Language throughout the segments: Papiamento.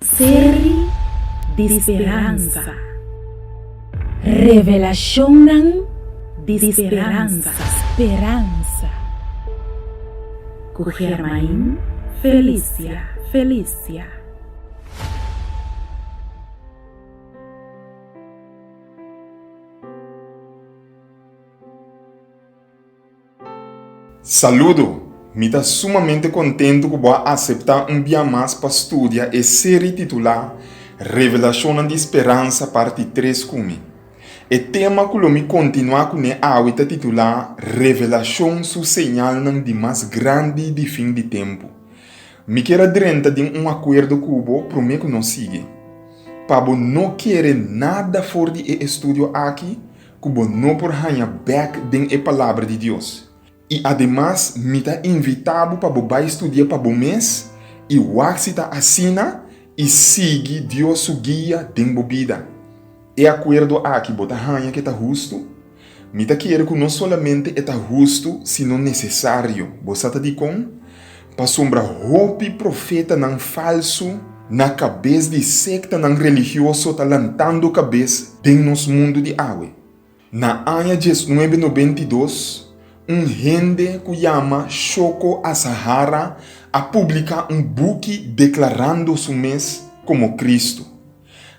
Serie di speransa Revelashonnan di speransa Speransa ku Germain Felicia Felicia. Saludo! Mi ta sumamente kontentu ku bo a aseptá un bia mas pa studia e seri titulá Revelashonnan di Speransa Parti Tres ku mi. E tema ku lo mi kontinuá kuné awe ta titulá Revelashon su señalnan di mas grandi di fin di tempu. Mi kier a drenta den un akuerdo ku bo promé ku nos sigui. Pa bo no kere nada for di e estudio aki, ku bo no por haña bèk den e Palabra di Dios. I ademas mi ta invitá bo pa bo bai studia pa bo mes i wak si ta asina i sigui Dios su guia den bo bida. E akuerdo aki bo ta haña ku e ta hustu? Mi ta kere ku no solamente e ta hustu sino nesesario. Bo sa ta dikon? Pasobra hopi profetanan falsu na kabes di sektanan religioso ta lantando kabes den nos mundu di awe. Na aña diesnuebe nobenta i dos, un hende ku yama Shoko Asahara a publiká un buki deklarando su mes komo Kristu.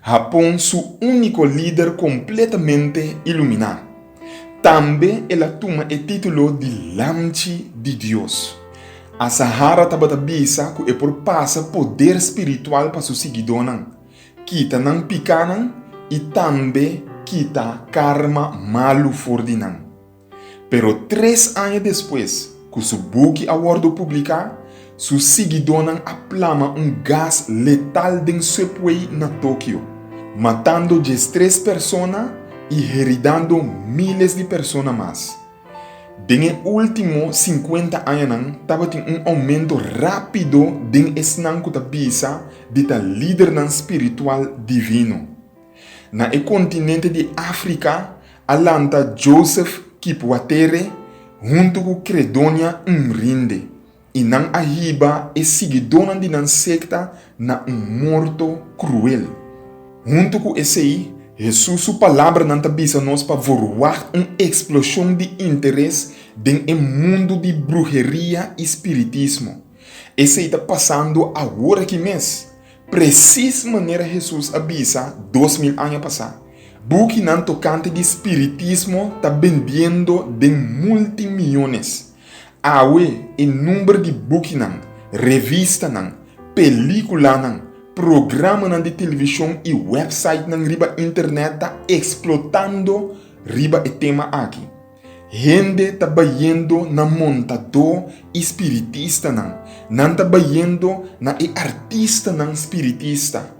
A pon su úniko lider kompletamente iluminá. Tambe el a tuma e título di Lamchi di Dios. A Sahara tabata bisa ku e por pasa poder spiritual pa su siguidónan, kita nan pikánan i tambe kita karma malu for di nan. Pero tres aña despues cu su buki a wordo publica, su siguidónan a plama un gas letal den subway na Tokio, matando diestres persona y heridando miles di persona mas. Den e ultimo cincuenta añanan tabatin un aumento rápido den esnan cu ta bisa di ta lidernan spiritual divino. Na e kontinente di Afrika a lanta Joseph Kipwatere huntu ku Credonia Nrinde i nan a hiba e siguidónan di nan sekta na un morto kruel. Huntu ku esei, Hesus su palabranan ta bisa nos pa vor wagt un eksploshon di interes den e mundu di bruheria i spiritismo. Esei ta pasando awor aki mes, Presis manera Hesus a bisa dos mil aña pasá, bukinan tokante di spiritismo ta bendiendo den multimiones. Awe e number di bukinan, revistanan, pelíkulanan, programanan di televishon i wèpsaitnan riba internet ta eksplotando riba e tema aki. Hende ta bayendo na montadó i spiritistanan. Nan ta bayendo na e artistanan spiritista.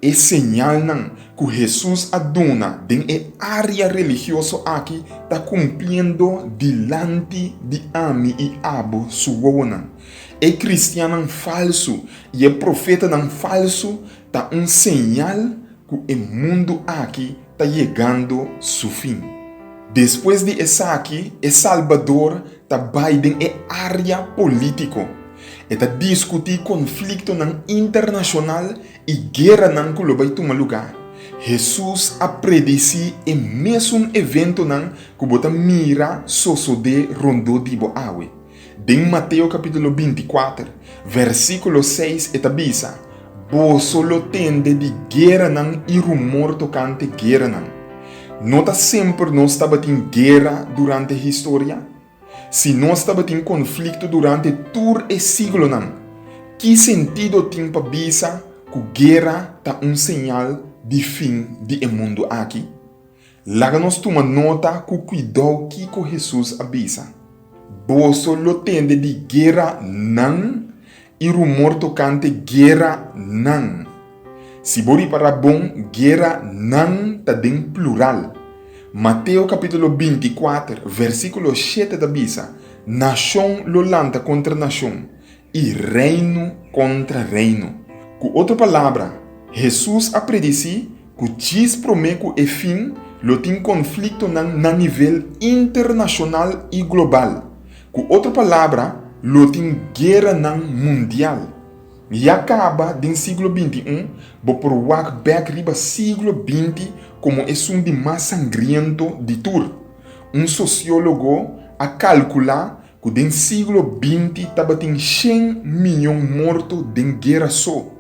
E señalnan ku Hesus a duna den e área religioso aki ta kumpliendo dilanti di ami i abo, su wowonan. E kristiannan falsu i e profetanan falsu Ta un señal cu e mundu aki ta yegando su fin. Despues di esaki, e Salbador ta bay den e area politico. E ta discuti conflictonan internacional y gueranan cu lo bay tuma lugar. Jesús a predici e mesun eventonan cu bo ta mira sosode rondó di bo awe. Den Mateo kapítulo binti kuater, vèrsikulo seis e ta bisa, Boso lo tende di geranan i rumor tokante geranan. No ta semper nos tabatin gera durante e historia? Si nos tabatin konflikto durante tur e siglonan, ki sentido tin pa bisa ku gera ta un señal di fin di e mundu aki? Laga nos tuma nota ku kuidou kiko Hesus a bisa, Boso lo tende di gueranan i rumor tokante gueranan. Si bo repará bon, gueranan ta den plural. Mateo kapítulo binti kuater, vèrsikulo shete ta bisa, Nashon lo lanta kontra nashon, i reino kontra reino. Ku otro palabra, Hesus a predisí ku djis promé ku e fin lo tin konfliktonan na nivel internashonal i global. Ku otro palabra, lo tin gueranan mundial. Ya kaba den siglo bintiún, bo por wak bèk riba siglo binti komo esun di mas sangriento di tur. Un sosiólogo a kalkulá ku den siglo binti tabatin shen miyon morto den guera so,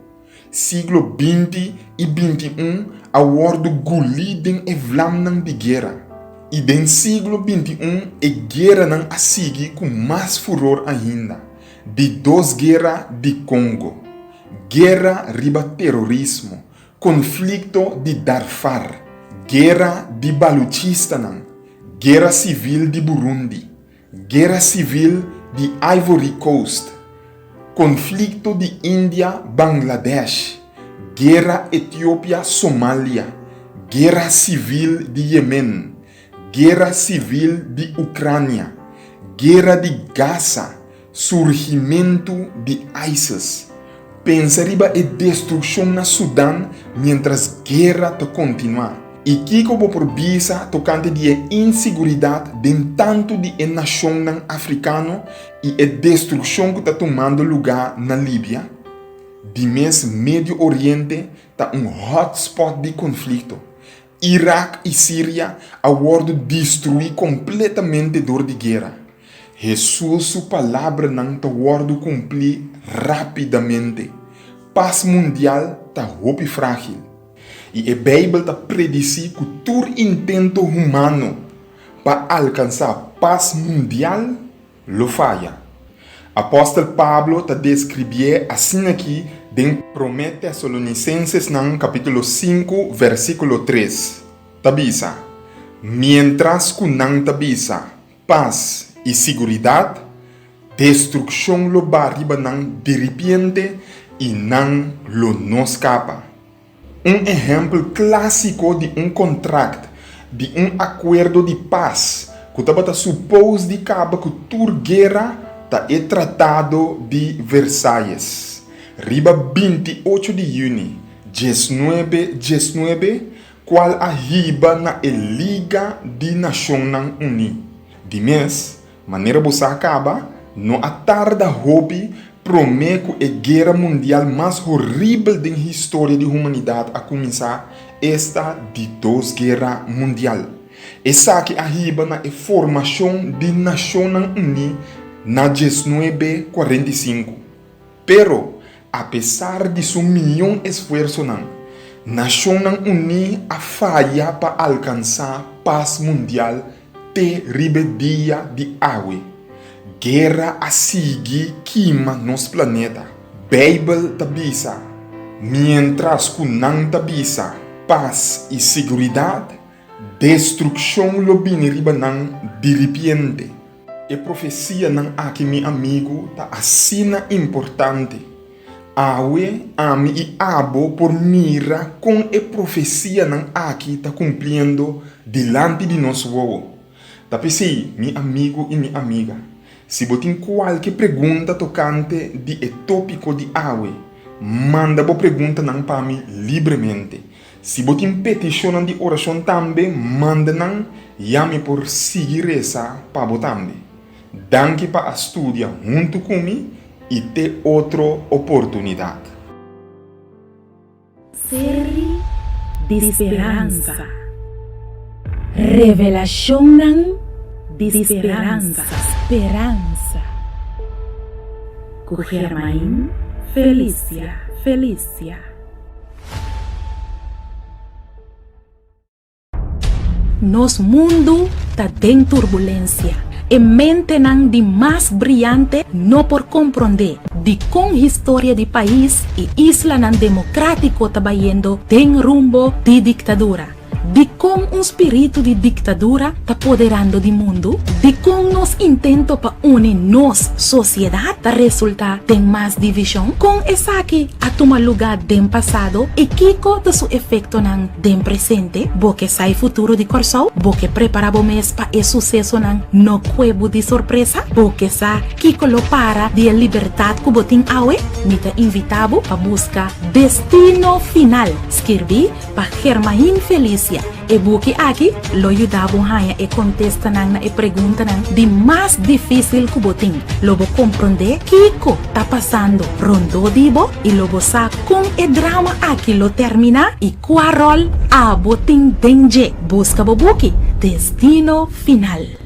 siglo binti i binti un a wòrdu gulí den e vlamnan di guera, i den siglo binti un e gueranan a sigui ku mas furor ainda, di dos guera di Kongo, guera riba terorismo, konflikto di Darfar, guera di baluchistanan, guera sivil di Burundi, Guera Sivil di Ivory Coast, Konflikto di India, Bangladesh, Guera Etiopia, Somalia, Guera Sivil di Yemen, Guera Sivil di Ucrania, Guera di Gaza, Surgimentu di ISIS, Pensa riba e destruccion na Sudan mientras guerra ta continua y kico bo por bisa tocante di e inseguridad den tanto di e nacionnan Africano y e destruccion cu ta tumando luga na Libia? Di mes Medio Oriente ta un hotspot di conflicto Irak i Siria a wòrdu destruí kompletamente dor di guera. Hesus su palabranan ta wòrdu kumplí rápidamente. Pas mundial ta hopi frágil, i e Beibel ta predisí ku tur intento humano pa alkansá pas mundial lo faya. Apòstel Pablo ta deskribié asin'akí den Promé Tesalonisensesnan kapítulo sinku vèrsikulo tres, ta bisa, Miéntras ku nan ta bisa, Pas i siguridat, destrukshon lo ba riba nan diripiente i nan lo no skapa. Un ehèmpel klásiko di un kontrakt di un akuerdo di pas ku tabata supos di kaba ku tur guera ta e Tratado di Versalles. Riba binti ocho di yüni dies nuebe dies nuebe, kual a hiba na e Liga di Nashonnan Uní di mes, Manera bo sa kaba, no a tarda hopi promé ku e guera mundial mas horibel den historia di humanidat a kuminsá, esta di Dos Guera Mundial. Esaki a hiba na e formashon di Nashonnan Uní na dies nuebe kuarenta i sinku. Pero, apesar di su miñon esfuersonan, Nashonnan Uní a faya pa alkansá pas mundial te riba dia di awe. Guera a sigui kima nos planeta. Beibel ta bisa, Miéntras ku nan ta bisa pas i siguridat, destrukshon lo bini riba nan diripiente. E profesianan aki, mi amigu, ta asina importante. Awe ami i abo por mira kon e profesianan aki ta kumpliendo dilanti di nos wowo. Ta p'esei, mi amigu i mi amiga, si bo tin kualke pregunta tokante di e tópiko di awe, manda bo preguntanan pa mi libremente. Si bo tin petishonnan di orashon tambe, manda nan, ya mi por sigui resa pa bo tambe. Danki pa a studia huntu ku mi i te otro oportunidat. Seri di speransa. Revelashonnan di speransa. Speransa. Ku Germain Felicia Felicia. Nos mundu ta den turbulensia. E mentenan di mas briante no por komprondé dikon historia di pais i islanan demokratiko ta bayendo den rumbo di diktadura. Dikon un spiritu di diktadura ta poderando di mundu? Dikon nos intento pa uni nos sosiedat ta resultá den mas divishon? Kon esaki a tuma lugá den pasado i kiko ta su efektonan den presente? Bo ke sa e futuro di Kòrsou? Bo ke prepará bo mes pa e susesonan no kue bo di sorpresa? Bo ke sa kiko lo para di e libertat ku bo tin awe? Mi ta invitá bo pa buska Destino Final, skirbí. Pa Germain Felicia, e buki aki lo yuda bo haña e kontestanan na e preguntanan di mas difísil ku bo tin. Lo bo komprondé kiko ta pasando rondó di bo i lo bo sa kon e drama aki lo terminá i kua ròl abo tin den dje. Buska bo buki Destino Final.